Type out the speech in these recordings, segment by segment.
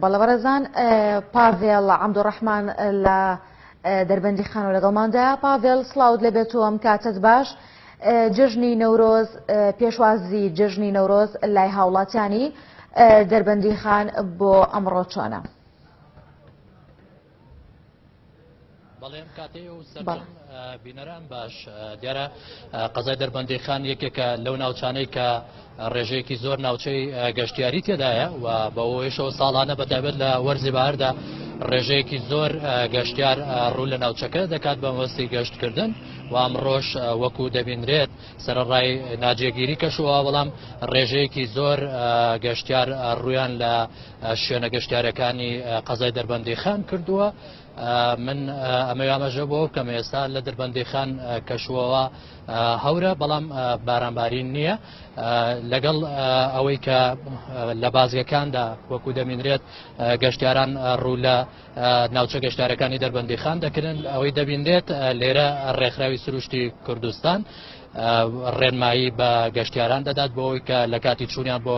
بەڵێ بەڕێزان پاڤێڵ عەبدوڕەحمان لە دەربەندی خانۆ لەگەڵماندا پاڤێڵ سڵاوت لەبێت و ئەم کاتت باش جژنی نەورۆز پێشوازی جژنی نەورۆز لای هاوڵاتیانی دەربەندی خان بۆ ئەمڕۆ چۆنە؟ بەڵێن کاتی و سەر بینەران باش دیارە قەزای دەربەندیخان یەکێکە لەو ناوچانەی کە ڕێژەیەکی زۆر ناوچەی گەشتیاری تێدایە و بەەوەیشەوە ساڵانە بەتابێت لە وەرزی باردا ڕێژەیەکی زۆر گەشتار ڕوو لە ناوچەکە دەکات بە مەستی گەشتکردن و ئەمڕۆژ وەکو دەبینرێت سەرڕای ناجێگیری کەشوە بەڵام ڕێژەیەکی زۆر گەشتار ڕویان لە شوێنە گەشتارەکانی قەزای دەربەندی خان کردووە من ئەمە ئاماژە بۆ کەم ئێستا لە دەربەندی خان کەشوەوە هەورە بەڵام بارانبارین نییە لەگەڵ ئەوەی کە لە بازگەکاندا وەکو دەمینرێت گەشتاران ڕوو لە ناوچە گەشتارەکانی دەربەندی خان دەکردن ئەوەی دەبینرێت لێرە ڕێکخراوی سروشتی کوردستان ڕێنمایی بە گەشتیاران دەدات بۆ ئەوی کە لە کاتی چوونیان بۆ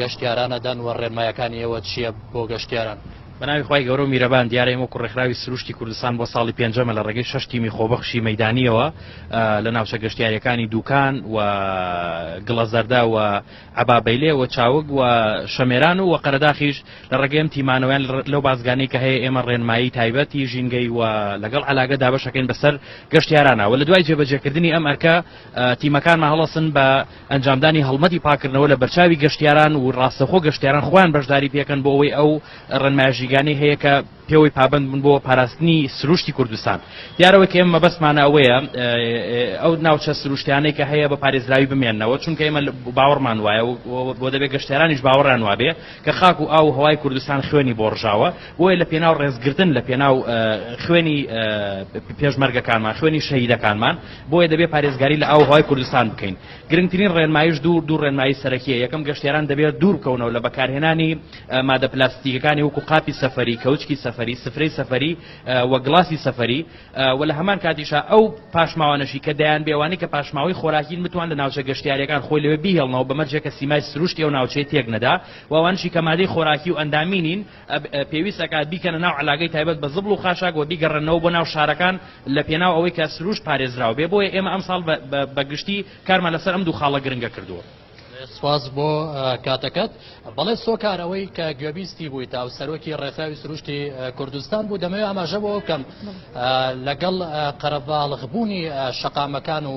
گەشتیارانە دەن وە ڕێنمایەکانی ئێوە چیە بۆ گەشتیاران؟ بەناوی خوای گەورە و میرەبان دیارە ئێمە وەکو ڕێکخراوی سروشتی کوردستان بۆ ساڵی پێنجەمە لە ڕێگەی شەش تیمی خۆبەخشی مەدانیەوە لە ناوچە گەشتیاریەکانی دوکان و گڵەزەردە و عبابەیلێ و چاوگ و شەمێران و قەرەداخیش لە ڕێگەم تیمانەوەیان لەو بازگانەی کە هەیە ئێمە ڕێنمایی تایبەتی ژینگەی و لەگەڵ علاگە دابشەکەین بەسەر گەشتیارانەوە لە دوای جێبەجێکردنی ئەم ئەرکە تیمەکانمان هەڵەسن بە ئەنجامدانی هەڵمەتی پاککردنەوە لە بەرچاوی گەشتیاران و ڕاستەخۆ گەشتیاران خۆیان بەشداری پێکەن بۆ ئەوەی ئەو ڕێنمایشیگانەی هەیە کە پێوەی پابند بن بۆ پاراستنی سروشتی کوردستان دیارەوە کە ئێمە بەسمانە ئەوەیە ئەو ناوچە سروشتیانەی کە هەیە بە پارێزراوی بمێنەوە چونکە ئێمە باوەڕمان وایە بۆ دەبێت گەشتێرانیش باوەڕان وابێ کە خاک و ئاو هەوای کوردستان خوێنی بۆ ڕژاوە بۆیە لە پێناو ڕێزگرتن لە پێناو خوێنی پێشمەرگەکانمان خوێنی شەهیدەکانمان بۆیە دەبێت پارێزگاری لە ئاو و هەوای کوردستان بکەین گرنگترین ڕێنمایش دوو دوو ڕێنمایی سەرەکیە یەکەم گەشتیاران دەبێت دوور بکەونەوە لە بەکارهێنانی مادە پلاستیکەکانی وەکو قاپی سەفری کەوچکی سەفری سفرەی سەفری و گڵاسی سەفری و لە هەمان کاتیشا ئەو پاشماوانەشی کە دەیان بێوانی کە پاشماوەی خۆراکین بتوان لە ناوچە گەشتیارەکان خۆی لەوێ بیهێڵنەوە بەمەرجێکە سیمای سروشتی ئەو ناوچەی تێک نەدا وانشی کە مادەی خۆراکی و ئەندامینین پێویست ئەکات بیکەنە ناو عەلاگەی تایبەت بە زبڵ و خاشاک وە بیگەڕێنەوە بۆ ناو شارەکان لە پێناو ئەوەی کە سروشت پارێزراو بێ بۆیە ئێمە ئەمساڵ بە گشتی کارمان لەسەر ئەم دوو خاڵە گرنگە کردووە. سپاس بۆ کاتەکەت بەڵێ سۆکار ئەوەی کە گوێبیستی بووی تا و سەرۆکی ڕێکخراوی سروشتی کوردستان بوو دەمەوێت ئاماژە بۆ بکەم لەگەڵ قەرەباڵغبوونی شەقامەکان و